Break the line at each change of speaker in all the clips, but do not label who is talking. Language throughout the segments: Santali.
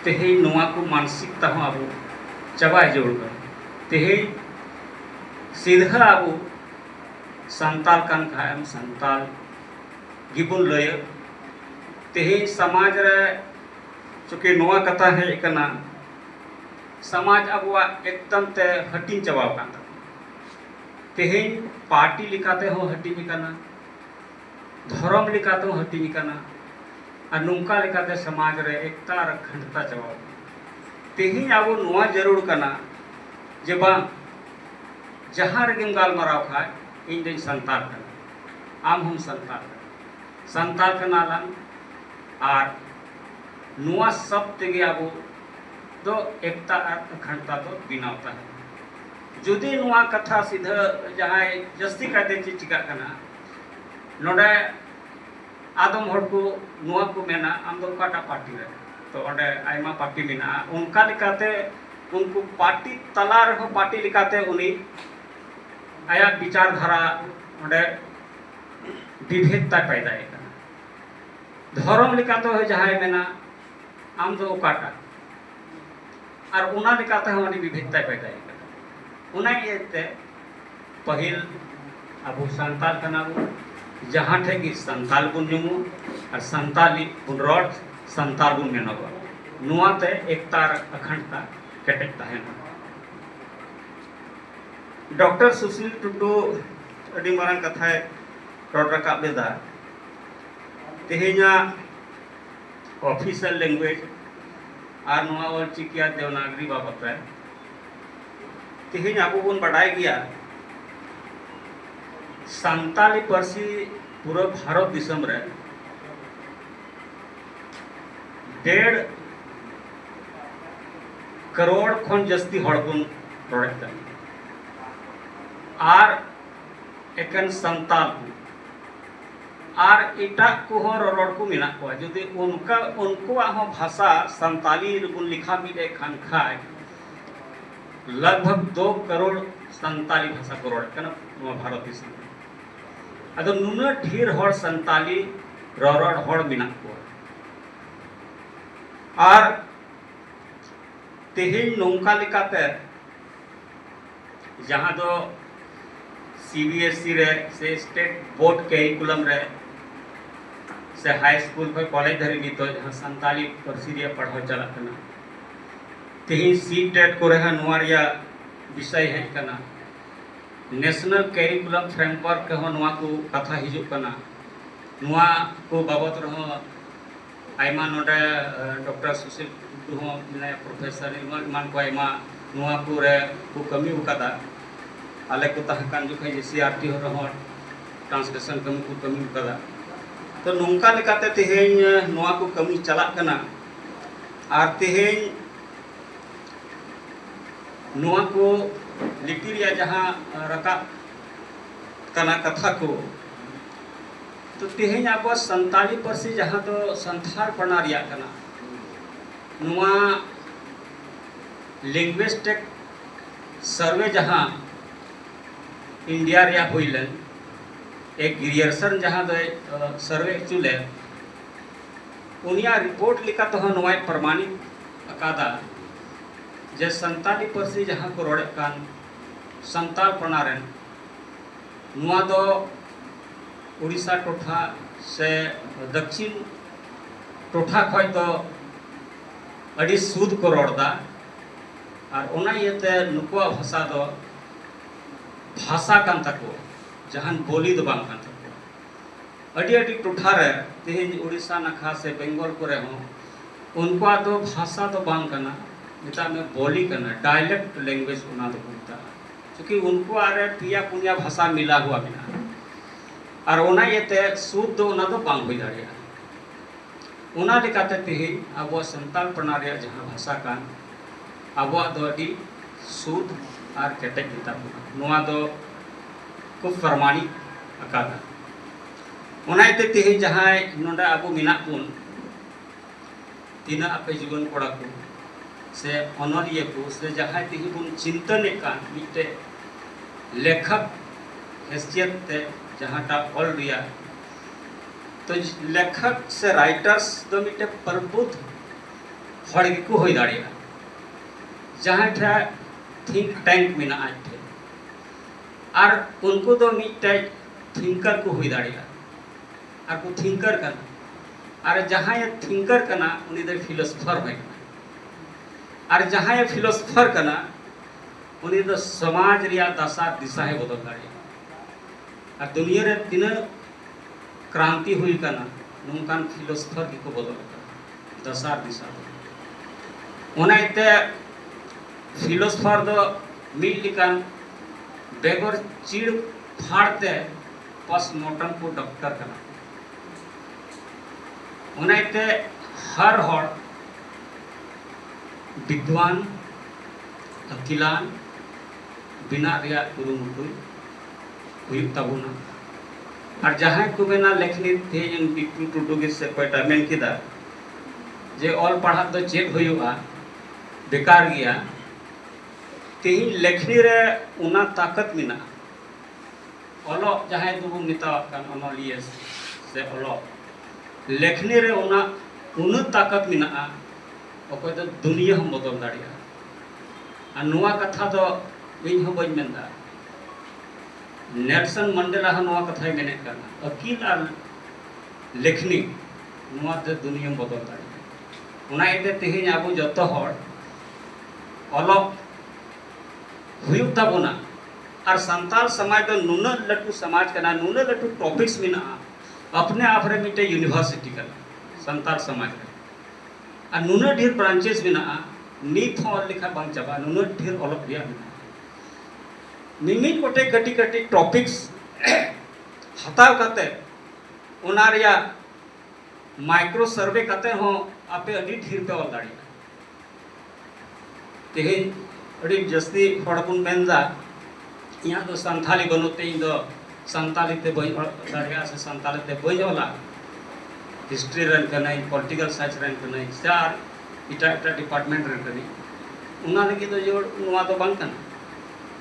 ᱛᱮᱦᱮᱧ ᱱᱚᱣᱟ ᱠᱚ ᱢᱟᱱᱥᱤᱠᱛᱟ ᱦᱚᱸ ᱟᱵᱚ ᱪᱟᱵᱟᱭ ᱡᱟᱹᱨᱩᱲ ᱠᱟᱱᱟ᱾ ᱛᱮᱦᱮᱧ ᱥᱤᱫᱷᱟᱹ ᱟᱵᱚ ᱥᱟᱱᱛᱟᱞ ᱠᱟᱱ ᱠᱷᱟᱡ ᱮᱢ ᱥᱟᱱᱛᱟᱞ ᱜᱮᱵᱚᱱ ᱞᱟᱹᱭᱟ᱾ ᱛᱮᱦᱮᱧ ᱥᱟᱢᱟᱡᱽ ᱨᱮ ᱪᱩᱠᱤ ᱱᱚᱣᱟ ᱠᱟᱛᱷᱟ ᱦᱮᱡ ᱟᱠᱟᱱᱟ ᱥᱟᱢᱟᱡᱽ ᱟᱵᱚᱣᱟᱜ ᱮᱠᱫᱚᱢ ᱛᱮ ᱦᱟᱹᱴᱤᱧ ᱪᱟᱵᱟᱣ ᱟᱠᱟᱱ ᱛᱟᱵᱚᱱᱟ᱾ ᱛᱮᱦᱮᱧ ᱯᱟᱨᱴᱤ ᱞᱮᱠᱟᱛᱮ ᱦᱚᱸ ᱦᱟᱹᱴᱤᱧ ᱟᱠᱟᱱᱟ᱾ ᱫᱷᱚᱨᱚᱢ ᱞᱮᱠᱟ ᱛᱮᱦᱚᱸ ᱦᱟᱹᱴᱤᱧ ᱟᱠᱟᱱᱟ ᱟᱨ ᱱᱚᱝᱠᱟ ᱞᱮᱠᱟᱛᱮ ᱥᱚᱢᱟᱡᱽ ᱨᱮ ᱮᱠᱛᱟ ᱟᱨ ᱟᱠᱷᱟᱱᱰᱛᱟ ᱪᱟᱵᱟᱣ ᱟᱠᱟᱱᱟ ᱛᱮᱦᱮᱧ ᱟᱵᱚ ᱱᱚᱣᱟ ᱡᱟᱹᱨᱩᱲ ᱠᱟᱱᱟ ᱡᱮ ᱵᱟᱝ ᱡᱟᱦᱟᱸ ᱨᱮᱜᱮᱢ ᱜᱟᱞᱢᱟᱨᱟᱣ ᱠᱷᱟᱱ ᱤᱧ ᱫᱚᱧ ᱥᱟᱱᱛᱟᱲ ᱠᱟᱱᱟ ᱟᱢ ᱦᱚᱸᱢ ᱥᱟᱱᱛᱟᱲ ᱠᱟᱱᱟ ᱥᱟᱱᱛᱟᱲ ᱠᱟᱱᱟ ᱞᱟᱝ ᱟᱨ ᱱᱚᱣᱟ ᱥᱚᱵ ᱛᱮᱜᱮ ᱟᱵᱚ ᱫᱚ ᱮᱠᱛᱟ ᱟᱨ ᱟᱠᱷᱟᱱᱰᱛᱟ ᱫᱚ ᱵᱮᱱᱟᱣ ᱛᱟᱦᱮᱱᱟ ᱡᱩᱫᱤ ᱱᱚᱣᱟ ᱠᱟᱛᱷᱟ ᱥᱤᱫᱷᱟᱹ ᱡᱟᱦᱟᱸᱭ ᱡᱟᱹᱥᱛᱤ ᱠᱟᱭᱛᱮ ᱪᱮᱫ ᱪᱤᱠᱟᱹᱜ ᱠᱟᱱᱟ ᱱᱚᱰᱮ ᱟᱫᱚᱢ ᱦᱚᱲ ᱠᱚ ᱱᱚᱣᱟ ᱠᱚ ᱢᱮᱱᱟ ᱟᱢ ᱫᱚ ᱚᱠᱟᱴᱟᱜ ᱯᱟᱨᱴᱤ ᱨᱮ ᱛᱚ ᱚᱸᱰᱮ ᱟᱭᱢᱟ ᱯᱟᱨᱴᱤ ᱢᱮᱱᱟᱜᱼᱟ ᱚᱱᱠᱟ ᱞᱮᱠᱟᱛᱮ ᱩᱱᱠᱩ ᱯᱟᱨᱴᱤ ᱛᱟᱞᱟ ᱨᱮᱦᱚᱸ ᱯᱟᱨᱴᱤ ᱞᱮᱠᱟᱛᱮ ᱩᱱᱤ ᱟᱭᱟᱜ ᱵᱤᱪᱟᱨ ᱫᱷᱟᱨᱟ ᱚᱸᱰᱮ ᱵᱤᱵᱷᱮᱫ ᱛᱟᱭ ᱯᱟᱭᱫᱟᱭᱮᱫ ᱠᱟᱱᱟ ᱫᱷᱚᱨᱚᱢ ᱞᱮᱠᱟᱛᱮ ᱦᱚᱸ ᱡᱟᱦᱟᱸᱭ ᱢᱮᱱᱟ ᱟᱢ ᱫᱚ ᱚᱠᱟᱴᱟᱜ ᱟᱨ ᱚᱱᱟ ᱞᱮᱠᱟᱛᱮ ᱦᱚᱸ ᱩᱱᱤ ᱵᱤᱵᱷᱮᱫ ᱛᱟᱭ ᱯᱟᱭᱫᱟᱭᱮᱫ ᱠᱟᱱᱟ ᱚᱱᱟ ᱤᱭᱟᱹᱛᱮ ᱯᱟᱹᱦᱤᱞ ᱟᱵᱚ ᱥᱟᱱᱛᱟᱞ ᱠᱟᱱᱟ ᱵᱚᱱ ᱡᱟᱦᱟᱸ ᱴᱷᱮᱱ ᱜᱮ ᱥᱟᱱᱛᱟᱞ ᱵᱚᱱ ᱧᱩᱢᱩᱜ ᱟᱨ ᱥᱟᱱᱛᱟᱞᱤ ᱵᱚᱱ ᱨᱚᱲ ᱥᱟᱱᱛᱟᱞ ᱵᱚᱱ ᱢᱮᱱᱚᱜᱼᱟ ᱱᱚᱣᱟ ᱛᱮ ᱮᱠᱛᱟ ᱟᱨ ᱟᱠᱷᱟᱱᱰᱛᱟ ᱠᱮᱴᱮᱡ ᱛᱟᱦᱮᱱᱟ ᱰᱚᱠᱴᱚᱨ ᱥᱩᱥᱤᱞ ᱴᱩᱰᱩ ᱟᱹᱰᱤ ᱢᱟᱨᱟᱝ ᱠᱟᱛᱷᱟᱭ ᱨᱚᱲ ᱨᱟᱠᱟᱵ ᱞᱮᱫᱟ ᱛᱮᱦᱮᱧᱟᱜ ᱚᱯᱷᱤᱥᱤᱭᱟᱞ ᱞᱮᱝᱜᱩᱭᱮᱡᱽ ᱟᱨ ᱱᱚᱣᱟ ᱚᱞᱪᱤᱠᱤ ᱟᱨ ᱫᱮᱵᱽᱱᱟᱜᱚᱨᱤ ᱵᱟᱵᱚᱛ ᱨᱮ ᱛᱤᱦᱤᱧ ᱟᱵᱚ ᱵᱚᱱ ᱵᱟᱰᱟᱭ ᱜᱮᱭᱟ ᱥᱟᱱᱛᱟᱞᱤ ᱯᱟᱹᱨᱥᱤ ᱯᱩᱨᱟᱹ ᱵᱷᱟᱨᱚᱛ ᱫᱤᱥᱚᱢ ᱨᱮ ᱰᱮᱲ ᱠᱟᱨᱳᱲ ᱠᱷᱚᱱ ᱡᱟᱹᱥᱛᱤ ᱦᱚᱲ ᱵᱚᱱ ᱨᱚᱲᱮᱫ ᱠᱟᱱᱟ ᱟᱨ ᱮᱠᱮᱱ ᱥᱟᱱᱛᱟᱞ ᱠᱚ ᱟᱨ ᱮᱴᱟᱜ ᱠᱚᱦᱚᱸ ᱨᱚᱨᱚᱲ ᱠᱚ ᱢᱮᱱᱟᱜ ᱠᱚᱣᱟ ᱡᱩᱫᱤ ᱚᱱᱠᱟ ᱩᱱᱠᱩᱣᱟᱜ ᱦᱚᱸ ᱵᱷᱟᱥᱟ ᱥᱟᱱᱛᱟᱞᱤ ᱨᱮᱵᱚᱱ ᱞᱮᱠᱷᱟ ᱢᱤᱫ ᱮᱫ ᱠᱟᱱ ᱠᱷᱟᱡ ᱞᱟᱜᱽᱵᱷᱟᱜᱽ ᱫᱳ ᱠᱟᱨᱳᱲ ᱥᱟᱱᱛᱟᱞᱤ ᱵᱷᱟᱥᱟ ᱠᱚ ᱨᱚᱲᱮᱫ ᱠᱟᱱᱟ ᱱᱚᱣᱟ ᱵᱷᱟᱨᱚᱛ ᱫᱤᱥᱚᱢ ᱨᱮ ᱟᱫᱚ ᱱᱩᱱᱟᱹᱜ ᱰᱷᱮᱨ ᱦᱚᱲ ᱥᱟᱱᱛᱟᱞᱤ ᱨᱚᱨᱚᱲ ᱦᱚᱲ ᱢᱮᱱᱟᱜ ᱠᱚᱣᱟ ᱟᱨ ᱛᱮᱦᱮᱧ ᱱᱚᱝᱠᱟ ᱞᱮᱠᱟᱛᱮ ᱡᱟᱦᱟᱸ ᱫᱚ ᱥᱤ ᱵᱤ ᱮᱥ ᱥᱤ ᱨᱮ ᱥᱮ ᱥᱴᱮᱴ ᱵᱳᱨᱰ ᱠᱮᱨᱤᱠᱩᱞᱟᱢ ᱨᱮ ᱥᱮ ᱦᱟᱭ ᱥᱠᱩᱞ ᱠᱷᱚᱱ ᱠᱚᱞᱮᱡᱽ ᱫᱷᱟᱹᱨᱤᱡ ᱱᱤᱛᱚᱜ ᱡᱟᱦᱟᱸ ᱥᱟᱱᱛᱟᱞᱤ ᱯᱟᱹᱨᱥᱤ ᱨᱮᱭᱟᱜ ᱯᱟᱲᱦᱟᱣ ᱪᱟᱞᱟᱜ ᱠᱟᱱᱟ ᱛᱮᱦᱮᱧ ᱥᱤ ᱴᱮᱴ ᱠᱚᱨᱮ ᱦᱚᱸ ᱱᱚᱣᱟ ᱨᱮᱭᱟᱜ ᱵᱤᱥᱚᱭ ᱦᱮᱡ ᱠᱟᱱᱟ ᱱᱮᱥᱱᱟᱞ ᱠᱮᱨᱤᱠᱩᱞᱟᱢ ᱯᱷᱨᱮᱢᱣᱟᱨᱠ ᱨᱮᱦᱚᱸ ᱱᱚᱣᱟ ᱠᱚ ᱠᱟᱛᱷᱟ ᱦᱤᱡᱩᱜ ᱠᱟᱱᱟ ᱱᱚᱣᱟ ᱠᱚ ᱵᱟᱵᱚᱫ ᱨᱮᱦᱚᱸ ᱟᱭᱢᱟ ᱱᱚᱰᱮ ᱰᱚᱠᱴᱚᱨ ᱥᱩᱥᱤᱞ ᱴᱩᱰᱩ ᱦᱚᱸ ᱢᱮᱱᱟᱭᱟ ᱯᱨᱚᱯᱷᱮᱥᱚᱨ ᱮᱢᱟᱱ ᱠᱚ ᱟᱭᱢᱟ ᱱᱚᱣᱟ ᱠᱚᱨᱮ ᱠᱚ ᱠᱟᱹᱢᱤ ᱟᱠᱟᱫᱟ ᱟᱞᱮ ᱠᱚ ᱛᱟᱦᱮᱸ ᱠᱟᱱ ᱡᱚᱠᱷᱚᱱ ᱮᱥ ᱥᱤ ᱟᱨ ᱴᱤ ᱨᱮᱦᱚᱸ ᱴᱨᱟᱱᱥᱞᱮᱥᱚᱱ ᱠᱟᱹᱢᱤ ᱠᱚ ᱠᱟᱹᱢᱤ ᱟᱠᱟᱫᱟ ᱛᱚ ᱱᱚᱝᱠᱟ ᱞᱮᱠᱟᱛᱮ ᱛᱮᱦᱮᱧ ᱱᱚᱣᱟ ᱠᱚ ᱠᱟᱹᱢᱤ ᱪᱟᱞᱟᱜ ᱠᱟᱱᱟ ᱟᱨ ᱛᱮᱦᱮᱧ ᱱᱚᱣᱟ ᱠᱚ ᱞᱤᱯᱤ ᱨᱮᱭᱟᱜ ᱡᱟᱦᱟᱸ ᱨᱟᱠᱟᱵ ᱠᱟᱱᱟ ᱠᱟᱛᱷᱟ ᱠᱚ ᱛᱚ ᱛᱮᱦᱮᱧ ᱟᱵᱚ ᱥᱟᱱᱛᱟᱲᱤ ᱯᱟᱹᱨᱥᱤ ᱡᱟᱦᱟᱸ ᱫᱚ ᱥᱟᱱᱛᱷᱟᱲ ᱯᱟᱲᱟ ᱨᱮᱭᱟᱜ ᱠᱟᱱᱟ ᱱᱚᱣᱟ ᱞᱤᱝᱜᱩᱤᱥᱴᱤᱠ ᱥᱟᱨᱵᱷᱮ ᱡᱟᱦᱟᱸ ᱤᱱᱰᱤᱭᱟ ᱨᱮᱭᱟᱜ ᱦᱩᱭ ᱞᱮᱱ ᱮ ᱜᱨᱤᱭᱟᱨᱥᱚᱱ ᱡᱟᱦᱟᱸ ᱫᱚᱭ ᱥᱟᱨᱵᱷᱮ ᱦᱚᱪᱚ ᱞᱮᱱ ᱩᱱᱤᱭᱟᱜ ᱨᱤᱯᱳᱨᱴ ᱞᱮᱠᱟ ᱛᱮᱦᱚᱸ ᱱᱚᱣᱟᱭ ᱯᱨᱚᱢᱟᱱᱤᱛ ᱟᱠᱟᱫᱟ ᱡᱮ ᱥᱟᱱᱛᱟᱲᱤ ᱯᱟᱹᱨᱥᱤ ᱡᱟᱦᱟᱸ ᱠᱚ ᱨᱚᱲᱮᱫ ᱠᱟᱱ ᱥᱟᱱᱛᱟᱲ ᱯᱟᱲᱟ ᱨᱮᱱ ᱱᱚᱣᱟ ᱫᱚ ᱳᱰᱤᱥᱟ ᱴᱚᱴᱷᱟ ᱥᱮ ᱫᱟᱠᱠᱷᱤᱱ ᱴᱚᱴᱷᱟ ᱠᱷᱚᱡ ᱫᱚ ᱟᱹᱰᱤ ᱥᱩᱫ ᱠᱚ ᱨᱚᱲ ᱫᱟ ᱟᱨ ᱚᱱᱟ ᱤᱭᱟᱹᱛᱮ ᱱᱩᱠᱩᱣᱟᱜ ᱵᱷᱟᱥᱟ ᱫᱚ ᱵᱷᱟᱥᱟ ᱠᱟᱱ ᱛᱟᱠᱚ ᱡᱟᱦᱟᱱ ᱵᱚᱞᱤ ᱫᱚ ᱵᱟᱝ ᱠᱟᱱ ᱛᱟᱠᱚ ᱟᱹᱰᱤ ᱟᱹᱰᱤ ᱴᱚᱴᱷᱟ ᱨᱮ ᱛᱮᱦᱮᱧ ᱳᱰᱤᱥᱟ ᱱᱟᱠᱷᱟ ᱥᱮ ᱵᱮᱝᱜᱚᱞ ᱠᱚᱨᱮ ᱦᱚᱸ ᱩᱱᱠᱩᱣᱟᱜ ᱫᱚ ᱵᱷᱟᱥᱟ ᱫᱚ ᱵᱟᱝ ᱠᱟᱱᱟ ᱢᱮᱛᱟᱜ ᱢᱮ ᱵᱚᱞᱤ ᱠᱟᱱᱟ ᱰᱟᱭᱞᱮᱠᱴ ᱞᱮᱝᱜᱩᱭᱮᱡᱽ ᱚᱱᱟ ᱫᱚᱠᱚ ᱢᱮᱛᱟᱜᱼᱟ ᱪᱩᱠᱤ ᱩᱱᱠᱩᱣᱟᱜ ᱨᱮ ᱯᱮᱭᱟ ᱯᱩᱱᱭᱟ ᱵᱷᱟᱥᱟ ᱢᱤᱞᱟ ᱦᱩᱣᱟ ᱢᱮᱱᱟᱜᱼᱟ ᱟᱨ ᱚᱱᱟ ᱤᱭᱟᱹᱛᱮ ᱥᱩᱫ ᱫᱚ ᱚᱱᱟ ᱫᱚ ᱵᱟᱝ ᱦᱩᱭ ᱫᱟᱲᱮᱭᱟᱜᱼᱟ ᱚᱱᱟ ᱞᱮᱠᱟᱛᱮ ᱛᱮᱦᱮᱧ ᱟᱵᱚ ᱥᱟᱱᱛᱟᱲ ᱯᱟᱲᱟ ᱨᱮᱭᱟᱜ ᱡᱟᱦᱟᱸ ᱵᱷᱟᱥᱟ ᱠᱟᱱ ᱟᱵᱚᱣᱟᱜ ᱫᱚ ᱟᱹᱰᱤ ᱥᱩᱫ ᱟᱨ ᱠᱮᱴᱮᱡ ᱜᱮᱛᱟ ᱵᱚᱱᱟ ᱱᱚᱣᱟ ᱫᱚ ᱠᱚ ᱯᱨᱚᱢᱟᱱᱤᱛ ᱟᱠᱟᱫᱟ ᱚᱱᱟ ᱤᱭᱟᱹᱛᱮ ᱛᱮᱦᱮᱧ ᱡᱟᱦᱟᱸᱭ ᱱᱚᱰᱮ ᱟᱵᱚ ᱢᱮᱱᱟᱜ ᱵᱚᱱ ᱛᱤᱱᱟᱹᱜ ᱟᱯᱮ ᱡᱩᱣᱟᱹᱱ ᱠᱚᱲᱟ ᱠᱚ ᱥᱮ ᱚᱱᱚᱞᱤᱭᱟᱹ ᱠᱚ ᱥᱮ ᱡᱟᱦᱟᱸᱭ ᱛᱮᱜᱮ ᱵᱚᱱ ᱪᱤᱱᱛᱟᱹᱱᱮᱫ ᱠᱟᱱ ᱢᱤᱫᱴᱮᱡ ᱞᱮᱠᱷᱚᱠ ᱦᱮᱥᱤᱭᱟᱛ ᱛᱮ ᱡᱟᱦᱟᱸᱴᱟᱜ ᱚᱞ ᱨᱮᱭᱟᱜ ᱛᱚ ᱞᱮᱠᱷᱚᱠ ᱥᱮ ᱨᱟᱭᱴᱟᱨᱥ ᱫᱚ ᱢᱤᱫᱴᱮᱡ ᱯᱨᱚᱵᱩᱫ ᱦᱚᱲ ᱜᱮᱠᱚ ᱦᱩᱭ ᱫᱟᱲᱮᱭᱟᱜᱼᱟ ᱡᱟᱦᱟᱸᱭ ᱴᱷᱮᱡ ᱛᱷᱤᱝᱠ ᱴᱮᱝᱠ ᱢᱮᱱᱟᱜᱼᱟ ᱟᱡ ᱴᱷᱮᱡ ᱟᱨ ᱩᱱᱠᱩ ᱫᱚ ᱢᱤᱫᱴᱮᱡ ᱛᱷᱤᱝᱠᱟᱨ ᱠᱚ ᱦᱩᱭ ᱫᱟᱲᱮᱭᱟᱜᱼᱟ ᱟᱨ ᱠᱚ ᱛᱷᱤᱝᱠᱟᱨ ᱠᱟᱱᱟ ᱟᱨ ᱡᱟᱦᱟᱸᱭ ᱛᱷᱤᱝᱠᱟᱨ ᱠᱟᱱᱟ ᱩᱱᱤ ᱫᱚ ᱯᱷᱤᱞᱚᱥᱚᱯᱷᱟᱨ ᱦᱚᱭ ᱠᱟᱱᱟ ᱟᱨ ᱡᱟᱦᱟᱸᱭ ᱯᱷᱤᱞᱚᱥᱚᱯᱷᱟᱨ ᱠᱟᱱᱟ ᱩᱱᱤ ᱫᱚ ᱥᱚᱢᱟᱡᱽ ᱨᱮᱭᱟᱜ ᱫᱟᱥᱟ ᱫᱤᱥᱟ ᱦᱚᱸ ᱵᱚᱫᱚᱞ ᱫᱟᱲᱮᱭᱟᱜᱼᱟ ᱟᱨ ᱫᱩᱱᱤᱭᱟᱹ ᱨᱮ ᱛᱤᱱᱟᱹᱜ ᱠᱨᱟᱱᱛᱤ ᱦᱩᱭ ᱠᱟᱱᱟ ᱱᱚᱝᱠᱟᱱ ᱯᱷᱤᱞᱚᱥᱚᱯᱷᱟᱨ ᱜᱮᱠᱚ ᱵᱚᱫᱚᱞ ᱠᱟᱱᱟ ᱫᱟᱥᱟ ᱫᱤᱥᱟ ᱫᱚ ᱚᱱᱟ ᱤᱭᱟᱹᱛᱮ ᱯᱷᱤᱞᱚᱥᱚᱯᱷᱟᱨ ᱫᱚ ᱢᱤᱫ ᱞᱮᱠᱟᱱ ᱵᱮᱜᱚᱨ ᱪᱤᱲ ᱯᱷᱟᱲ ᱛᱮ ᱯᱚᱥᱢᱚᱨᱴᱚᱢ ᱠᱚ ᱰᱚᱠᱴᱚᱨ ᱠᱟᱱᱟ ᱚᱱᱟᱛᱮ ᱦᱟᱨ ᱦᱚᱲ ᱵᱤᱫᱽᱣᱟᱱ ᱟᱹᱠᱤᱞᱟᱱ ᱵᱮᱱᱟᱜ ᱨᱮᱭᱟᱜ ᱠᱩᱨᱩᱢᱩᱴᱩ ᱦᱩᱭᱩᱜ ᱛᱟᱵᱚᱱᱟ ᱟᱨ ᱡᱟᱦᱟᱸᱭ ᱠᱚ ᱢᱮᱱᱟ ᱞᱮᱠᱷᱱᱤ ᱛᱮᱦᱮᱧ ᱵᱤᱴᱩ ᱴᱩᱰᱩ ᱜᱮ ᱥᱮ ᱚᱠᱚᱭᱴᱟᱜ ᱢᱮᱱ ᱠᱮᱫᱟ ᱡᱮ ᱚᱞ ᱯᱟᱲᱦᱟᱜ ᱫᱚ ᱪᱮᱫ ᱦᱩᱭᱩᱜᱼᱟ ᱵᱮᱠᱟᱨ ᱜᱮᱭᱟ ᱛᱮᱦᱮᱧ ᱞᱮᱠᱷᱱᱤ ᱨᱮ ᱚᱱᱟ ᱛᱟᱠᱚᱛ ᱢᱮᱱᱟᱜᱼᱟ ᱚᱞᱚᱜ ᱡᱟᱦᱟᱸᱭ ᱫᱚᱵᱚᱱ ᱢᱮᱛᱟᱣᱟᱜ ᱠᱟᱱ ᱚᱱᱚᱞᱤᱭᱟᱹ ᱥᱮ ᱚᱞᱚᱜ ᱞᱮᱠᱷᱱᱤ ᱨᱮ ᱚᱱᱟ ᱩᱱᱟᱹᱜ ᱛᱟᱠᱚᱛ ᱢᱮᱱᱟᱜᱼᱟ ᱚᱠᱚᱭ ᱫᱚ ᱫᱩᱱᱤᱭᱟᱹ ᱦᱚᱸ ᱵᱚᱫᱚᱞ ᱫᱟᱲᱮᱭᱟᱜᱼᱟ ᱟᱨ ᱱᱚᱣᱟ ᱠᱟᱛᱷᱟ ᱫᱚ ᱤᱧ ᱦᱚᱸ ᱵᱟᱹᱧ ᱢᱮᱱᱫᱟ ᱱᱮᱞᱥᱚᱱ ᱢᱟᱱᱰᱮᱞᱟ ᱦᱚᱸ ᱱᱚᱣᱟ ᱠᱟᱛᱷᱟᱭ ᱢᱮᱱᱮᱫ ᱠᱟᱱᱟ ᱟᱹᱠᱤᱞ ᱟᱨ ᱞᱮᱠᱷᱱᱤ ᱱᱚᱣᱟ ᱛᱮ ᱫᱩᱱᱤᱭᱟᱹ ᱵᱚᱫᱚᱞ ᱫᱟᱲᱮᱭᱟᱜᱼᱟ ᱚᱱᱟ ᱤᱭᱟᱹᱛᱮ ᱛᱮᱦᱮᱧ ᱟᱵᱚ ᱡᱚᱛᱚ ᱦᱚᱲ ᱚᱞᱚᱜ ᱦᱩᱭᱩᱜ ᱛᱟᱵᱚᱱᱟ ᱟᱨ ᱥᱟᱱᱛᱟᱲ ᱥᱚᱢᱟᱡᱽ ᱫᱚ ᱱᱩᱱᱟᱹᱜ ᱞᱟᱹᱴᱩ ᱥᱚᱢᱟᱡᱽ ᱠᱟᱱᱟ ᱱᱩᱱᱟᱹᱜ ᱞᱟᱹᱴᱩ ᱴᱚᱯᱤᱠᱥ ᱢᱮᱱᱟᱜᱼᱟ ᱟᱯᱱᱮ ᱟᱯ ᱨᱮ ᱢᱤᱫᱴᱮᱱ ᱭᱩᱱᱤᱵᱷᱟᱨᱥᱤᱴᱤ ᱠᱟᱱᱟ ᱥᱟᱱᱛᱟᱲ ᱥᱚᱢᱟᱡᱽ ᱨᱮ ᱟᱨ ᱱᱩᱱᱟᱹᱜ ᱰᱷᱮᱨ ᱵᱨᱟᱱᱪᱮᱥ ᱢᱮᱱᱟᱜᱼᱟ ᱱᱤᱛ ᱦᱚᱸ ᱚᱞ ᱞᱮᱠᱷᱟᱱ ᱵᱟᱝ ᱪᱟᱵᱟᱜᱼᱟ ᱱᱩᱱᱟᱹᱜ ᱰᱷᱮᱨ ᱚᱞᱚᱜ ᱨᱮᱭᱟᱜ ᱢᱮᱱᱟᱜᱼᱟ ᱢᱤᱢᱤᱫ ᱜᱚᱴᱮᱡ ᱠᱟᱹᱴᱤᱡ ᱠᱟᱹᱴᱤᱡ ᱴᱚᱯᱤᱠᱥ ᱦᱟᱛᱟᱣ ᱠᱟᱛᱮ ᱚᱱᱟ ᱨᱮᱭᱟᱜ ᱢᱟᱭᱠᱨᱳ ᱥᱟᱨᱵᱷᱮ ᱠᱟᱛᱮ ᱦᱚᱸ ᱟᱯᱮ ᱟᱹᱰᱤ ᱰᱷᱮᱨ ᱯᱮ ᱚᱞ ᱫᱟᱲᱮᱭᱟᱜᱼᱟ ᱛᱮᱦᱮᱧ ᱟᱹᱰᱤ ᱡᱟᱹᱥᱛᱤ ᱦᱚᱲ ᱵᱚᱱ ᱢᱮᱱᱫᱟ ᱤᱧᱟᱹᱜ ᱫᱚ ᱥᱟᱱᱛᱷᱟᱞᱤ ᱵᱟᱹᱱᱩᱜ ᱛᱮ ᱤᱧ ᱫᱚ ᱥᱟᱱᱛᱟᱞᱤ ᱛᱮ ᱵᱟᱹᱧ ᱚᱞ ᱫᱟᱲᱮᱭᱟᱜᱼᱟ ᱥᱮ ᱥᱟᱱᱛᱟᱞᱤ ᱛᱮ ᱵᱟᱹᱧ ᱚᱞᱟ ᱦᱤᱥᱴᱨᱤ ᱨᱮᱱ ᱠᱟᱹᱱᱟᱹᱧ ᱯᱚᱞᱤᱴᱤᱠᱟᱞ ᱥᱟᱭᱮᱱᱥ ᱨᱮᱱ ᱠᱟᱹᱱᱟᱹᱧ ᱥᱮ ᱟᱨ ᱮᱴᱟᱜ ᱮᱴᱟᱜ ᱰᱤᱯᱟᱨᱴᱢᱮᱱᱴ ᱨᱮᱱ ᱠᱟᱹᱱᱟᱹᱧ ᱚᱱᱟ ᱞᱟᱹᱜᱤᱫ ᱫᱚ ᱡᱮ ᱱᱚᱣᱟ ᱫᱚ ᱵᱟᱝ ᱠᱟᱱᱟ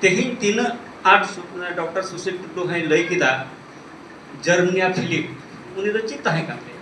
ᱛᱮᱦᱮᱧ ᱛᱤᱱᱟᱹᱜ ᱟᱸᱴ ᱰᱚᱠᱴᱚᱨ ᱥᱩᱥᱤᱞ ᱴᱩᱰᱩ ᱦᱚᱸᱭ ᱞᱟᱹᱭ ᱠᱮᱫᱟ ᱡᱟᱨᱢᱤᱱᱤᱭᱟ ᱯᱷᱤᱞᱤᱯ ᱩᱱᱤ ᱫᱚ ᱪᱮᱫ ᱛᱟᱦᱮᱸ ᱠᱟᱱ ᱛᱟᱭᱟ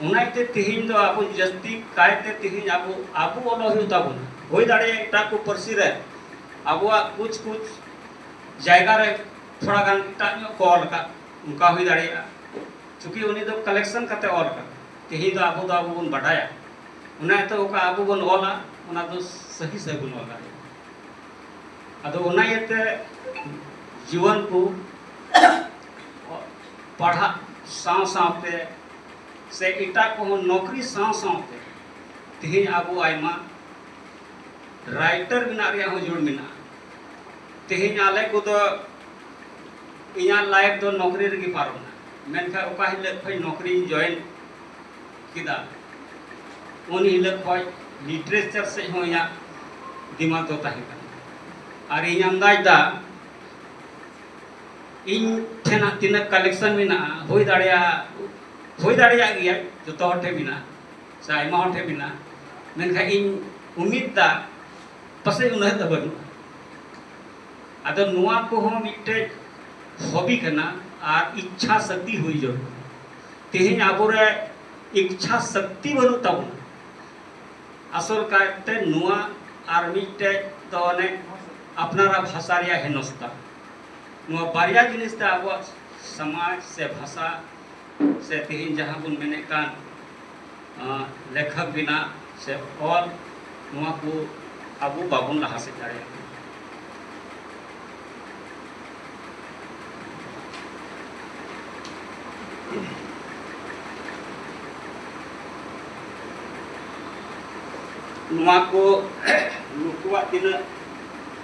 ᱚᱱᱟᱛᱮ ᱛᱮᱦᱮᱧ ᱫᱚ ᱟᱵᱚ ᱡᱟᱹᱥᱛᱤ ᱠᱟᱭᱛᱮ ᱛᱮᱦᱮᱧ ᱟᱵᱚ ᱟᱵᱚ ᱚᱞᱚᱜ ᱦᱩᱭᱩᱜ ᱛᱟᱵᱚᱱᱟ ᱦᱩᱭ ᱫᱟᱲᱮᱭᱟᱜᱼᱟ ᱮᱴᱟᱜ ᱠᱚ ᱯᱟᱹᱨᱥᱤ ᱨᱮ ᱟᱵᱚᱣᱟᱜ ᱠᱩᱪ ᱠᱩᱪ ᱡᱟᱭᱜᱟ ᱨᱮ ᱛᱷᱚᱲᱟ ᱜᱟᱱ ᱮᱴᱟᱜ ᱧᱚᱜ ᱠᱚ ᱚᱞ ᱟᱠᱟᱫ ᱚᱱᱠᱟ ᱦᱩᱭ ᱫᱟᱲᱮᱭᱟᱜᱼᱟ ᱪᱩᱸᱠᱤ ᱩᱱᱤ ᱫᱚ ᱠᱟᱞᱮᱠᱥᱚᱱ ᱠᱟᱛᱮ ᱚᱞ ᱟᱠᱟᱫ ᱛᱮᱦᱮᱧ ᱫᱚ ᱟᱵᱚ ᱫᱚ ᱟᱵᱚ ᱵᱚᱱ ᱵᱟᱰᱟᱭᱟ ᱚᱱᱟ ᱤᱭᱟᱹᱛᱮ ᱚᱠᱟ ᱟᱵᱚ ᱵᱚᱱ ᱚᱞᱟ ᱚᱱᱟ ᱫᱚ ᱥᱟᱹᱦᱤ ᱥᱟᱹᱦᱤ ᱵᱚᱱ ᱚᱞ ᱫᱟᱲᱮᱭᱟᱜᱼᱟ ᱟᱫᱚ ᱚᱱᱟ ᱤᱭᱟᱹᱛᱮ ᱡᱩᱣᱟᱹᱱ ᱠᱚ ᱯᱟᱲᱦᱟᱜ ᱥᱟᱶ ᱥᱟᱶᱛᱮ ᱥᱮ ᱮᱴᱟᱜ ᱠᱚᱦᱚᱸ ᱱᱚᱠᱨᱤ ᱥᱟᱶ ᱥᱟᱶᱛᱮ ᱛᱮᱦᱮᱧ ᱟᱵᱚ ᱟᱭᱢᱟ ᱨᱟᱭᱴᱟᱨ ᱵᱮᱱᱟᱜ ᱨᱮᱭᱟᱜ ᱦᱚᱸ ᱡᱩᱲ ᱢᱮᱱᱟᱜᱼᱟ ᱛᱮᱦᱮᱧ ᱟᱞᱮ ᱠᱚᱫᱚ ᱤᱧᱟᱹᱜ ᱞᱟᱭᱤᱯᱷ ᱫᱚ ᱱᱚᱠᱨᱤ ᱨᱮᱜᱮ ᱯᱟᱨᱚᱢᱱᱟ ᱢᱮᱱᱠᱷᱟᱱ ᱚᱠᱟ ᱦᱤᱞᱳᱜ ᱠᱷᱚᱱ ᱱᱚᱠᱨᱤᱧ ᱡᱚᱭᱮᱱ ᱠᱮᱫᱟ ᱩᱱ ᱦᱤᱞᱳᱜ ᱠᱷᱚᱱ ᱞᱤᱴᱟᱨᱮᱪᱟᱨ ᱥᱮᱫ ᱦᱚᱸ ᱤᱧᱟᱹᱜ ᱫᱤᱢᱟᱜᱽ ᱫᱚ ᱛᱟᱦᱮᱸ ᱠᱟᱱᱟ ᱟᱨ ᱤᱧ ᱟᱱᱫᱟᱡᱽ ᱮᱫᱟ ᱤᱧ ᱴᱷᱮᱱ ᱦᱟᱸᱜ ᱛᱤᱱᱟᱹᱜ ᱠᱟᱞᱮᱠᱥᱚᱱ ᱢᱮᱱᱟᱜᱼᱟ ᱦᱩᱭ ᱫᱟᱲᱮᱭᱟᱜᱼᱟ ᱦᱩᱭ ᱫᱟᱲᱮᱭᱟᱜ ᱜᱮᱭᱟ ᱡᱚᱛᱚ ᱦᱚᱲ ᱴᱷᱮᱱ ᱢᱮᱱᱟᱜᱼᱟ ᱥᱮ ᱟᱭᱢᱟ ᱦᱚᱲ ᱴᱷᱮᱱ ᱢᱮᱱᱟᱜᱼᱟ ᱢᱮᱱᱠᱷᱟᱱ ᱤᱧ ᱩᱢᱤᱫ ᱫᱟ ᱯᱟᱥᱮᱡ ᱩᱱᱟᱹᱜ ᱫᱚ ᱵᱟᱹᱱᱩᱜᱼᱟ ᱟᱫᱚ ᱱᱚᱣᱟ ᱠᱚᱦᱚᱸ ᱢᱤᱫᱴᱮᱡ ᱦᱚᱵᱤ ᱠᱟᱱᱟ ᱟᱨ ᱤᱪᱪᱷᱟ ᱥᱚᱠᱛᱤ ᱦᱩᱭ ᱡᱟᱹᱨᱩᱲ ᱛᱮᱦᱮᱧ ᱟᱵᱚᱨᱮ ᱤᱪᱪᱷᱟ ᱥᱚᱠᱛᱤ ᱵᱟᱹᱱᱩᱜ ᱛᱟᱵᱚᱱᱟ ᱟᱥᱚᱞ ᱠᱟᱭᱛᱮ ᱱᱚᱣᱟ ᱟᱨ ᱢᱤᱫᱴᱮᱡ ᱫᱚ ᱚᱱᱮ ᱟᱯᱱᱟᱨᱟᱜ ᱵᱷᱟᱥᱟ ᱨᱮᱭᱟᱜ ᱦᱮᱱᱚᱥᱛᱟ ᱱᱚᱣᱟ ᱵᱟᱨᱭᱟ ᱡᱤᱱᱤᱥ ᱛᱮ ᱟᱵᱚᱣᱟᱜ ᱥᱚᱢᱟᱡᱽ ᱥᱮ ᱵᱷᱟᱥᱟ ᱥᱮ ᱛᱮᱦᱮᱧ ᱡᱟᱦᱟᱸ ᱵᱚᱱ ᱢᱮᱱᱮᱫ ᱠᱟᱱ ᱞᱮᱠᱷᱚᱠ ᱵᱮᱱᱟᱜ ᱥᱮ ᱚᱞ ᱱᱚᱣᱟ ᱠᱚ ᱟᱵᱚ ᱵᱟᱵᱚᱱ ᱞᱟᱦᱟ ᱥᱮᱫ ᱫᱟᱲᱮᱭᱟᱜ ᱠᱟᱱᱟ ᱱᱚᱣᱟ ᱠᱚ ᱱᱩᱠᱩᱣᱟᱜ ᱛᱤᱱᱟᱹᱜ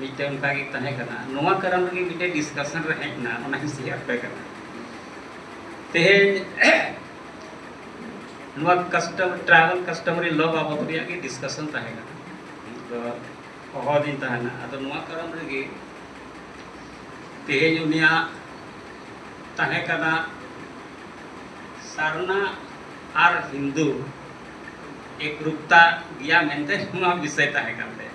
ᱢᱤᱫᱴᱮᱱ ᱚᱱᱠᱟ ᱜᱮ ᱛᱟᱦᱮᱸ ᱠᱟᱱᱟ ᱱᱚᱣᱟ ᱠᱟᱨᱚᱱ ᱨᱮᱜᱮ ᱢᱤᱫᱴᱮᱱ ᱰᱤᱥᱠᱟᱥᱚᱱ ᱨᱮ ᱦᱮᱡ ᱮᱱᱟ ᱚᱱᱟ ᱦᱤᱥᱟᱹᱵ ᱟᱯᱮ ᱠᱟᱱᱟ ᱛᱮᱦᱮᱧ ᱱᱚᱣᱟ ᱠᱟᱥᱴᱚᱢ ᱴᱨᱟᱭᱵᱟᱞ ᱠᱟᱥᱴᱚᱢᱟᱨᱤ ᱞᱚ ᱵᱟᱵᱚᱫ ᱨᱮᱭᱟᱜ ᱜᱮ ᱰᱤᱥᱠᱟᱥᱚᱱ ᱛᱟᱦᱮᱸ ᱠᱟᱱᱟ ᱛᱚ ᱦᱚᱦᱚ ᱫᱤᱧ ᱛᱟᱦᱮᱱᱟ ᱟᱫᱚ ᱱᱚᱣᱟ ᱠᱟᱨᱚᱱ ᱨᱮᱜᱮ ᱛᱮᱦᱮᱧ ᱩᱱᱤᱭᱟᱜ ᱛᱟᱦᱮᱸ ᱠᱟᱱᱟ ᱥᱟᱨᱱᱟ ᱟᱨ ᱦᱤᱱᱫᱩ ᱮᱠᱨᱩᱯᱛᱟ ᱜᱮᱭᱟ ᱢᱮᱱᱛᱮ ᱱᱚᱣᱟ ᱵᱤᱥᱚᱭ ᱛᱟᱦᱮᱸ ᱠᱟᱱ ᱛᱟᱭᱟ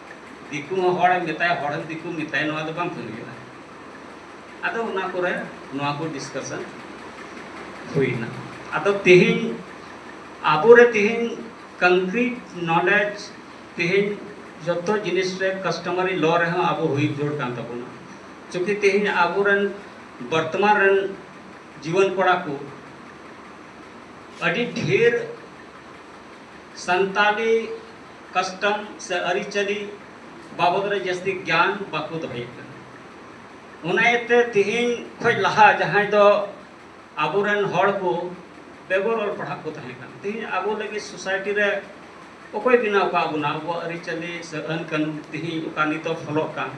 ᱫᱤᱠᱩ ᱦᱚᱸ ᱦᱚᱲ ᱮᱢ ᱢᱮᱛᱟᱭᱟ ᱦᱚᱲ ᱦᱚᱸ ᱫᱤᱠᱩ ᱢᱮᱛᱟᱭᱟ ᱱᱚᱣᱟ ᱫᱚ ᱵᱟᱝ ᱦᱩᱭᱩᱜᱼᱟ ᱟᱫᱚ ᱚᱱᱟ ᱠᱚᱨᱮ ᱱᱚᱣᱟ ᱠᱚ ᱰᱤᱥᱠᱟᱥᱚᱱ ᱦᱩᱭᱱᱟ ᱟᱫᱚ ᱛᱮᱦᱮᱧ ᱟᱵᱚᱨᱮ ᱛᱮᱦᱮᱧ ᱠᱚᱱᱠᱨᱤᱴ ᱱᱚᱞᱮᱡᱽ ᱛᱮᱦᱮᱧ ᱡᱚᱛᱚ ᱡᱤᱱᱤᱥ ᱨᱮ ᱠᱟᱥᱴᱚᱢᱟᱨᱤ ᱞᱚ ᱨᱮᱦᱚᱸ ᱟᱵᱚ ᱦᱩᱭ ᱡᱳᱨ ᱠᱟᱱ ᱛᱟᱵᱚᱱᱟ ᱪᱩᱸᱠᱤ ᱛᱮᱦᱮᱧ ᱟᱵᱚᱨᱮᱱ ᱵᱚᱨᱛᱚᱢᱟᱱ ᱨᱮᱱ ᱡᱩᱣᱟᱹᱱ ᱠᱚᱲᱟ ᱠᱚ ᱟᱹᱰᱤ ᱰᱷᱮᱨ ᱥᱟᱱᱛᱟᱞᱤ ᱠᱟᱥᱴᱚᱢ ᱥᱮ ᱟᱹᱨᱤᱪᱟᱹᱞᱤ ᱵᱟᱵᱚᱫ ᱨᱮ ᱡᱟᱹᱥᱛᱤ ᱜᱮᱭᱟᱱ ᱵᱟᱠᱚ ᱫᱚᱦᱚᱭᱮᱫ ᱠᱟᱱᱟ ᱚᱱᱟ ᱤᱭᱟᱹᱛᱮ ᱛᱮᱦᱮᱧ ᱠᱷᱚᱱ ᱞᱟᱦᱟ ᱡᱟᱦᱟᱸᱭ ᱫᱚ ᱟᱵᱚᱨᱮᱱ ᱦᱚᱲ ᱠᱚ ᱵᱮᱜᱚᱨ ᱚᱞ ᱯᱟᱲᱦᱟᱜ ᱠᱚ ᱛᱟᱦᱮᱸ ᱠᱟᱱᱟ ᱛᱮᱦᱮᱧ ᱟᱵᱚ ᱞᱟᱹᱜᱤᱫ ᱥᱳᱥᱟᱭᱴᱤ ᱨᱮ ᱚᱠᱚᱭ ᱵᱮᱱᱟᱣ ᱠᱟᱜ ᱵᱚᱱᱟ ᱟᱵᱚᱣᱟᱜ ᱟᱹᱨᱤᱪᱟᱹᱞᱤ ᱥᱮ ᱟᱹᱱ ᱠᱟᱹᱱᱩᱱ ᱛᱮᱦᱮᱧ ᱚᱠᱟ ᱱᱤᱛᱚᱜ ᱯᱷᱚᱞᱚᱜ ᱠᱟᱱ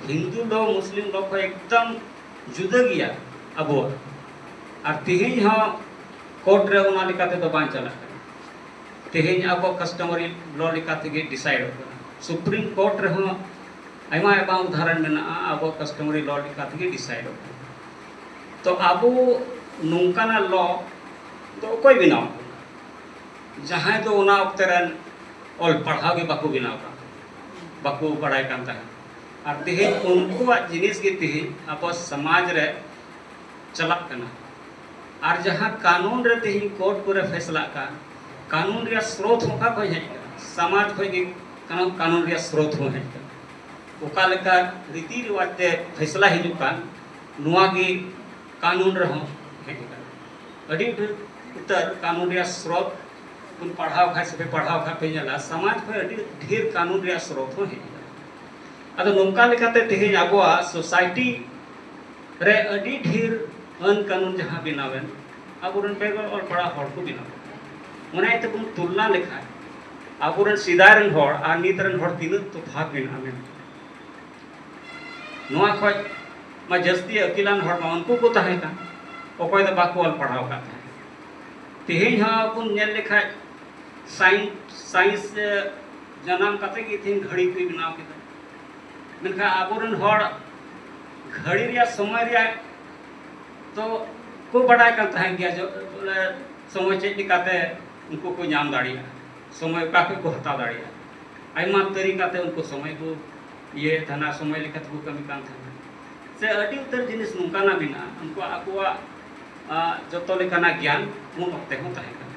ᱦᱤᱱᱫᱩ ᱫᱚ ᱢᱩᱥᱞᱤᱢ ᱫᱚ ᱠᱷᱚᱱ ᱮᱠᱫᱚᱢ ᱡᱩᱫᱟᱹ ᱜᱮᱭᱟ ᱟᱵᱚᱣᱟᱜ ᱟᱨ ᱛᱮᱦᱮᱧ ᱦᱚᱸ ᱠᱳᱨᱴ ᱨᱮ ᱚᱱᱟ ᱞᱮᱠᱟ ᱛᱮᱫᱚ ᱵᱟᱝ ᱪᱟᱞᱟᱜ ᱠᱟᱱᱟ ᱛᱮᱦᱮᱧ ᱟᱵᱚ ᱠᱟᱥᱴᱚᱢᱟᱨᱤ ᱞᱚ ᱞᱮᱠᱟ ᱛᱮᱜᱮ ᱰᱤᱥᱟᱭᱤᱰᱚᱜ ᱠᱟᱱᱟ ᱥᱩᱯᱨᱤᱢ ᱠᱳᱨᱴ ᱨᱮᱦᱚᱸ ᱟᱭᱢᱟ ᱟᱭᱢᱟ ᱩᱫᱟᱦᱚᱨᱚᱱ ᱢᱮᱱᱟᱜᱼᱟ ᱟᱵᱚ ᱠᱟᱥᱴᱚᱢᱟᱨᱤ ᱞᱚ ᱞᱮᱠᱟ ᱛᱮᱜᱮ ᱰᱤᱥᱟᱭᱤᱰᱚᱜ ᱠᱟᱱᱟ ᱛᱚ ᱟᱵᱚ ᱱᱚᱝᱠᱟᱱᱟᱜ ᱞᱚ ᱫᱚ ᱚᱠᱚᱭ ᱵᱮᱱᱟᱣ ᱡᱟᱦᱟᱸᱭ ᱫᱚ ᱚᱱᱟ ᱚᱠᱛᱮ ᱨᱮᱱ ᱚᱞ ᱯᱟᱲᱦᱟᱣ ᱜᱮ ᱵᱟᱠᱚ ᱵᱮᱱᱟᱣ ᱠᱟᱱ ᱵᱟᱠᱚ ᱵᱟᱲᱟᱭ ᱠᱟᱱ ᱛᱟᱦᱮᱸᱫ ᱟᱨ ᱛᱮᱦᱮᱧ ᱩᱱᱠᱩᱣᱟᱜ ᱡᱤᱱᱤᱥ ᱜᱮ ᱛᱮᱦᱮᱧ ᱟᱵᱚ ᱥᱚᱢᱟᱡᱽ ᱨᱮ ᱪᱟᱞᱟᱜ ᱠᱟᱱᱟ ᱟᱨ ᱡᱟᱦᱟᱸ ᱠᱟᱱᱩᱱ ᱨᱮ ᱛᱮᱦᱮᱧ ᱠᱳᱨᱴ ᱠᱚᱨᱮ ᱯᱷᱮᱥᱞᱟᱜ ᱠᱟᱱ ᱠᱟᱱᱩᱱ ᱨᱮᱭᱟᱜ ᱥᱨᱳᱛ ᱦᱚᱸ ᱚᱠᱟ ᱠᱷᱚᱱ ᱦᱮᱡ ᱠᱟᱱᱟ ᱥᱟᱢᱟᱡᱽ ᱠᱷᱚᱱ ᱜᱮ ᱠᱟᱱᱟ ᱠᱟᱱᱩᱱ ᱨᱮᱭᱟᱜ ᱥᱨᱳᱛ ᱦᱚᱸ ᱦᱮᱡ ᱠᱟᱱᱟ ᱚᱠᱟ ᱞᱮᱠᱟ ᱨᱤᱛᱤ ᱨᱮᱣᱟᱡᱽ ᱛᱮ ᱯᱷᱮᱥᱞᱟ ᱦᱤᱡᱩᱜ ᱠᱟᱱ ᱱᱚᱣᱟ ᱜᱮ ᱠᱟᱱᱩᱱ ᱨᱮᱦᱚᱸ ᱦᱮᱡ ᱠᱟᱱᱟ ᱟᱹᱰᱤ ᱰᱷᱮᱨ ᱩᱛᱟᱹᱨ ᱠᱟᱱᱩᱱ ᱨᱮᱭᱟᱜ ᱥᱨᱳᱛ ᱵᱚᱱ ᱯᱟᱲᱦᱟᱣ ᱠᱷᱟᱱ ᱥᱮ ᱯᱟᱲᱦᱟᱣ ᱠᱷᱟᱱ ᱯᱮ ᱧᱮᱞᱟ ᱥᱟᱢᱟᱡᱽ ᱠᱷᱚᱱ ᱟᱹᱰᱤ ᱰᱷᱮᱨ ᱠᱟᱱᱩᱱ ᱨᱮᱭᱟᱜ ᱥᱨᱳᱛ ᱦᱚᱸ ᱦᱮᱡ ᱠᱟᱱᱟ ᱟᱫᱚ ᱱᱚᱝᱠᱟ ᱞᱮᱠᱟᱛᱮ ᱛᱮᱦᱮᱧ ᱟᱵᱚᱣᱟᱜ ᱥᱳᱥᱟᱭᱴᱤ ᱨᱮ ᱟᱹᱰᱤ ᱰᱷᱮᱨ ᱟᱹᱱ ᱠᱟᱹᱱᱩᱱ ᱡᱟᱦᱟᱸ ᱵᱮᱱᱟᱣᱮᱱ ᱟᱵᱚᱨᱮᱱ ᱵᱮᱜᱚᱨ ᱚᱞ ᱯᱟᱲᱦᱟᱣ ᱦᱚᱲ ᱠᱚ ᱵᱮᱱᱟᱣ ᱚᱱᱟ ᱤᱭᱟᱹᱛᱮ ᱵᱚᱱ ᱛᱩᱞᱱᱟ ᱞᱮᱠᱷᱟᱱ ᱟᱵᱚᱨᱮᱱ ᱥᱮᱫᱟᱭ ᱨᱮᱱ ᱦᱚᱲ ᱟᱨ ᱱᱤᱛ ᱨᱮᱱ ᱦᱚᱲ ᱛᱤᱱᱟᱹᱜ ᱛᱚᱯᱷᱟᱛ ᱢᱮᱱᱟᱜᱼᱟ ᱢᱮᱱᱛᱮ ᱱᱚᱣᱟ ᱠᱷᱚᱡ ᱢᱟ ᱡᱟᱹᱥᱛᱤ ᱟᱹᱠᱤᱞᱟᱱ ᱦᱚᱲ ᱢᱟ ᱩᱱᱠᱩ ᱠᱚ ᱛᱟᱦᱮᱸ ᱠᱟᱱ ᱚᱠᱚᱭ ᱫᱚ ᱵᱟᱠᱚ ᱚᱞ ᱯᱟᱲᱦᱟᱣ ᱠᱟᱱ ᱛᱟᱦᱮᱸ ᱛᱮᱦᱮᱧ ᱦᱚᱸ ᱵᱚᱱ ᱧᱮᱞ ᱞᱮᱠᱷᱟᱡ ᱥᱟᱭᱮᱱᱥ ᱥᱟᱭᱮᱱᱥ ᱡᱟᱱᱟᱢ ᱠᱟᱛᱮ ᱜᱮ ᱛᱮᱦᱮᱧ ᱜᱷᱟᱹᱲᱤ ᱠᱚ ᱵᱮᱱᱟᱣ ᱠᱮᱫᱟ ᱢᱮᱱᱠᱷᱟᱱ ᱟᱵᱚᱨᱮᱱ ᱦᱚᱲ ᱜᱷᱟᱹᱲᱤ ᱨᱮᱭᱟᱜ ᱥᱚᱢᱚᱭ ᱨᱮᱭᱟᱜ ᱛᱚ ᱠᱚ ᱵᱟᱰᱟᱭ ᱠᱟᱱ ᱛᱟᱦᱮᱸ ᱜᱮᱭᱟ ᱥᱚᱢᱚᱭ ᱪᱮᱫ ᱞᱮᱠᱟᱛᱮ ᱩᱱᱠᱩ ᱠᱚ ᱧᱟᱢ ᱫᱟᱲᱮᱭᱟᱜᱼᱟ ᱥᱚᱢᱚᱭ ᱚᱠᱟ ᱠᱷᱚᱱ ᱠᱚ ᱦᱟᱛᱟᱣ ᱫᱟᱲᱮᱭᱟᱜᱼᱟ ᱟᱭᱢᱟ ᱛᱟᱹᱨᱤᱠᱟᱛᱮ ᱩᱱᱠᱩ ᱥᱚᱢᱚᱭ ᱠᱚ ᱤᱭᱟᱹᱭᱮᱫ ᱛᱟᱦᱮᱱᱟ ᱥᱚᱢᱚᱭ ᱞᱮᱠᱟ ᱛᱮᱠᱚ ᱠᱟᱹᱢᱤ ᱠᱟᱱ ᱛᱟᱦᱮᱱᱟ ᱥᱮ ᱟᱹᱰᱤ ᱩᱛᱟᱹᱨ ᱡᱤᱱᱤᱥ ᱱᱚᱝᱠᱟᱱᱟᱜ ᱢᱮᱱᱟᱜᱼᱟ ᱩᱱᱠᱩᱣᱟᱜ ᱟᱠᱚᱣᱟᱜ ᱡᱚᱛᱚ ᱞᱮᱠᱟᱱᱟᱜ ᱜᱮᱭᱟᱱ ᱩᱱ ᱚᱠᱛᱮ ᱦᱚᱸ ᱛᱟᱦᱮᱸ ᱠᱟᱱᱟ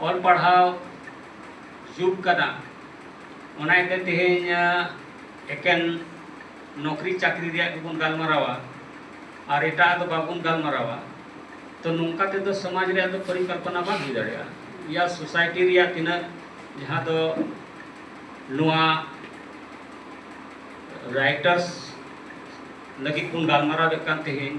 ᱚᱞ ᱯᱟᱲᱦᱟᱣ ᱡᱩᱜᱽ ᱠᱟᱱᱟ ᱚᱱᱟ ᱤᱭᱟᱹᱛᱮ ᱛᱮᱦᱮᱧ ᱮᱠᱮᱱ ᱱᱚᱠᱨᱤ ᱪᱟᱹᱠᱨᱤ ᱨᱮᱭᱟᱜ ᱜᱮᱵᱚᱱ ᱜᱟᱞᱢᱟᱨᱟᱣᱟ ᱟᱨ ᱮᱴᱟᱜ ᱫᱚ ᱵᱟᱵᱚᱱ ᱜᱟᱞᱢᱟᱨᱟᱣᱟ ᱛᱚ ᱱᱚᱝᱠᱟ ᱛᱮᱫᱚ ᱥᱚᱢᱟᱡᱽ ᱨᱮᱭᱟᱜ ᱫᱚ ᱯᱚᱨᱤᱠᱚᱞᱯᱚᱱᱟ ᱵᱟᱝ ᱦᱩᱭ ᱫᱟᱲᱮᱭᱟᱜᱼᱟ ᱤᱭᱟ ᱥᱳᱥᱟᱭᱴᱤ ᱨᱮᱭᱟᱜ ᱛᱤᱱᱟᱹᱜ ᱡᱟᱦᱟᱸ ᱫᱚ ᱱᱚᱣᱟ ᱨᱟᱭᱴᱟᱨᱥ ᱞᱟᱹᱜᱤᱫ ᱵᱚᱱ ᱜᱟᱞᱢᱟᱨᱟᱣᱮᱫ ᱠᱟᱱ ᱛᱮᱦᱮᱧ